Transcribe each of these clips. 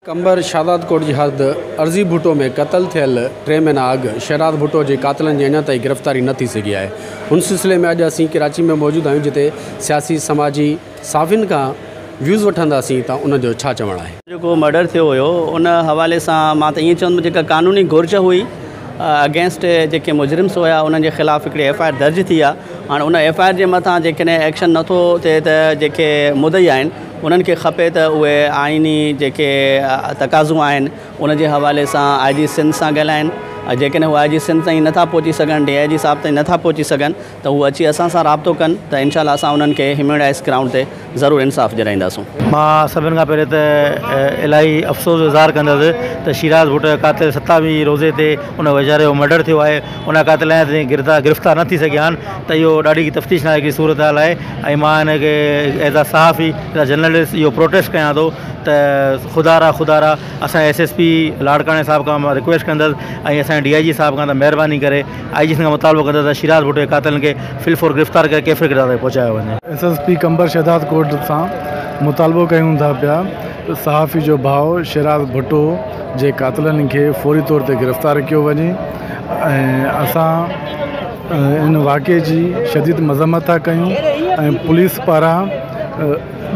قمبر شهداد ڪوٽ جي حد ارضي ڀٽو ۾ قتل ٿيل ٽي مهينا اڳ شهداد ڀٽو جي قاتلن جي اڃا تائين گرفتاري نه ٿي سگهي آهي ان سلسلي ۾ اڄ اسين ڪراچي ۾ موجود آهيون جتي سياسي سماجي صحافين کان ويوز وٺنداسين ته ان جو ڇا چوڻ آهي. جيڪو مرڊر ٿيو هيو ان حوالي سان مان ته ائين چوندم جيڪا قانوني گهرج هئي اگينسٽ جيڪي مجرمس هيا انهن جي خلاف هڪڙي ايف آء آر درج ٿي آ هاڻ ان ايف آء آر جي مٿان جيڪڏهن ايڪشن نه ٿو ٿئي ته جيڪي مدعي آهن انهن کي کپي ته اهي آئيني جيڪي تقاضون آهن ان جي حوالي سان آء جي سنڌ سان ڳالهائن جيڪڏهن هو آء جي سنڌ تائين نه ٿا پهچي سگهن ڊي آء جي صاحب تائين نه ٿا پهچي سگهن ته هو اچي اسان سان رابطو ڪن ته انشاء الله اسان انهن کي هيوميوڊائيز گرائونڊ تي ضرور انصاف ڏيرائينداسون. مان سڀن کان پهرين ته الاهي افسوس جو اظهار ڪندس ته شيراز ڀٽ قاتل ستاوي روزي تي ان ويچاري جو مرڊر ٿيو آهي ان قاتل اڃا تائين گرفتار نه ٿي سگهيا آهن ته اهو ڏاڍي تفتيش ناليقي جي صورتحال آهي ۽ مان هن کي ايز آ صحافي ايز آ جرنلسٽ اهو پروٽيسٽ ڪيان ٿو ته خدا را خدا را اسان ايس ايس پي لاڙڪاڻي صاحب کان مان رڪويسٽ ڪندس ۽ اسان جي ڊي آء جي صاحب کان ته مهرباني ڪري آء جي سنڌ کان مطالبو ڪندس ته شيراز ڀٽو جي قاتلن کي فل فور گرفتار ڪري ڪيفر ڪيڏار تائين پهچايو وڃي. S S P Qambar Shahdad Kot سان مطالبو ڪيون ٿا پيا ته صحافي جو ڀاء شيراز ڀٽو جي قاتلن کي فوري طور تي گرفتار ڪيو وڃي ۽ اسان ان واقعي جي شديد مذمت ٿا ڪيون ۽ پوليس پاران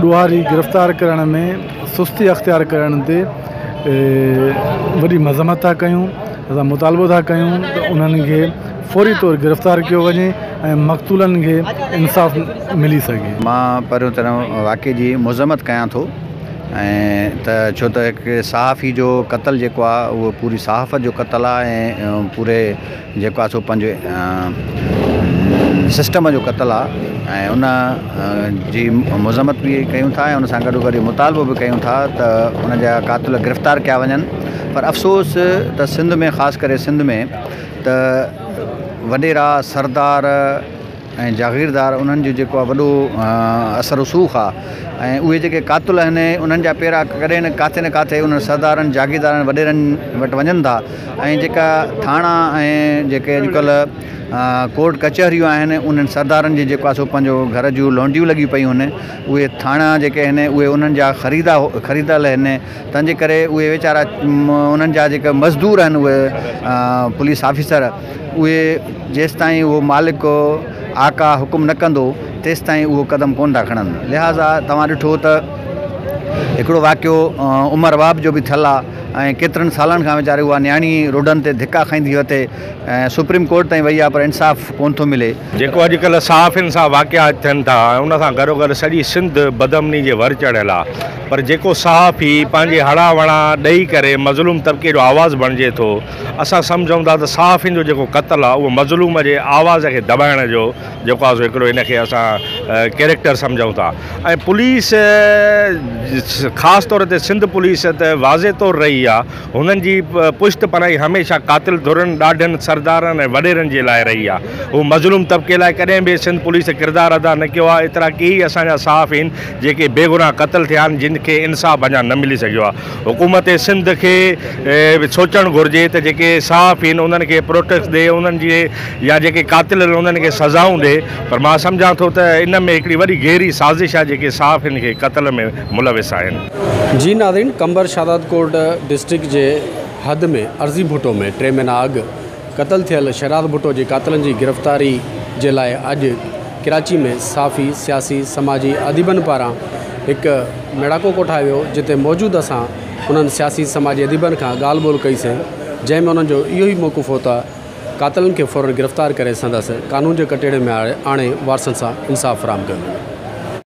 ڏوهاري گرفتار ڪرڻ ۾ سستي اختيار ڪرڻ تي وڏي مذمت ٿا ڪيون. اسان مطالبو ٿا ڪيون ته انهن کي فوري طور گرفتار ڪيو وڃي ۽ مقتولن کي انصاف ملي سگهي. مان پهريون ته ان واقعي جي مذمت ڪيان ٿو ۽ ته ڇو ته هڪ صحافي جو قتل جيڪو آهي اهو پوري صحافت جو قتل آهي ۽ پوري جيڪو آهي سو پنهنجي سسٽم جو قتل آهي ۽ ان جي مذمت به ڪيون ٿا ۽ ان سان گڏو گڏ مطالبو به ڪيون ٿا ته ان جا قاتل گرفتار ڪيا وڃن پر افسوس ته سنڌ ۾ خاص ڪري سنڌ ۾ ته وڏيرا سردار ۽ جاگيردار انهن جو جيڪو آ وڏو اثر رسوخ آ ۽ اهي جيڪي قاتل آهن انهن جا پيرا ڪڏهن نه ڪاٿي نه ڪاٿي انهن سردارن جاگيردارن وڏيرن وٽ وڃن ٿا ۽ جيڪا ٿاڻا ۽ جيڪي اڄڪلهه ڪورٽ ڪچهريون آهن انهن سردارن جي جيڪو آ سو پنهنجو گهر جون لونڊيون لڳيون پيون آهن اهي ٿاڻا جيڪي آهن اهي انهن جا خريدا خريدل آهن تنهنجي ڪري اهي ويچارا انهن جا جيڪا مزدور آهن اهي پوليس آفيسر اهي جيستائين اهو مالڪ آقا حڪم نه ڪندو تيستائين اهو قدم ڪون ٿا کڻن لهٰذا توهان ڏٺو ته هڪڙو واقعو عمر واب جو به ٿيل آهي ۽ ڪيترن سالن کان ويچاري اها نياڻي روڊن تي ڌڪا کائيندي وتي سپريم ڪورٽ تائين وئي آهي پر انصاف ڪون ٿو ملي جيڪو اڄڪلهه صحافين سان واقعا ٿين ٿا ان سان گڏوگڏ سڄي سنڌ بدامني جي ور چڙهيل آهي. پر جيڪو صحافي پنهنجي هڙان وڙان ڏئي ڪري مظلوم طبقي جو آواز بڻجي ٿو، اسان سمجهون ٿا ته صحافين جو جيڪو قتل آهي اهو مظلوم جي آواز کي دٻائڻ جو جيڪو آهي سو هڪڙو ان کي اسان ڪيريڪٽر سمجهون ٿا ۽ پوليس خاص طور تي سنڌ پوليس ته واضح طور رهي آهي هنن جي پشت پناهي هميشه قاتل ڌرين، ڏاڍن، سردارن ۽ وڏيرن جي لاء رهي آهي هو مظلوم طبقي لاء ڪڏهن به سنڌ پوليس ڪردار ادا نه ڪيو آهي ايترا ڪيئي اسان جا صحافين جيڪي بيگناهه قتل ٿيا آهن جن کي انصاف اڃا نه ملي سگهيو آهي حڪومت سنڌ کي به سوچڻ گهرجي ته جيڪي صحافي آهن انهن کي پروٽيڪس ڏي انهن جي يا جيڪي قاتل آهن انهن کي سزائون ڏي پر مان سمجهان ٿو ته ان ۾ هڪڙي وڏي گهري سازش آهي جيڪي صحافين کي قتل ۾ ملوث آهن. جي ناظرين قمبر شهدادڪوٽ ڊسٽرڪٽ جي حد ۾ ارزي ڀٽو ۾ ٽي مهينا اڳ قتل ٿيل شھراز ڀٽو جي قاتلن جي گرفتاري جي لاء اڄ ڪراچي ۾ صحافي، سياسي، سماجي اديبن پاران ھڪ ميڙاڪو ڪوٺايو ويو جتي موجود اسان انھن سياسي سماجي اديبن کان ڳالھ ٻولھ ڪئي سين جنھن ۾ انھن جو اھو ئي موقف ھو ته قاتلن کي فورن گرفتار ڪري سندس قانون جي ڪٽھڙي ۾ آڻي وارثن سان انصاف فراھم ڪيو وڃي.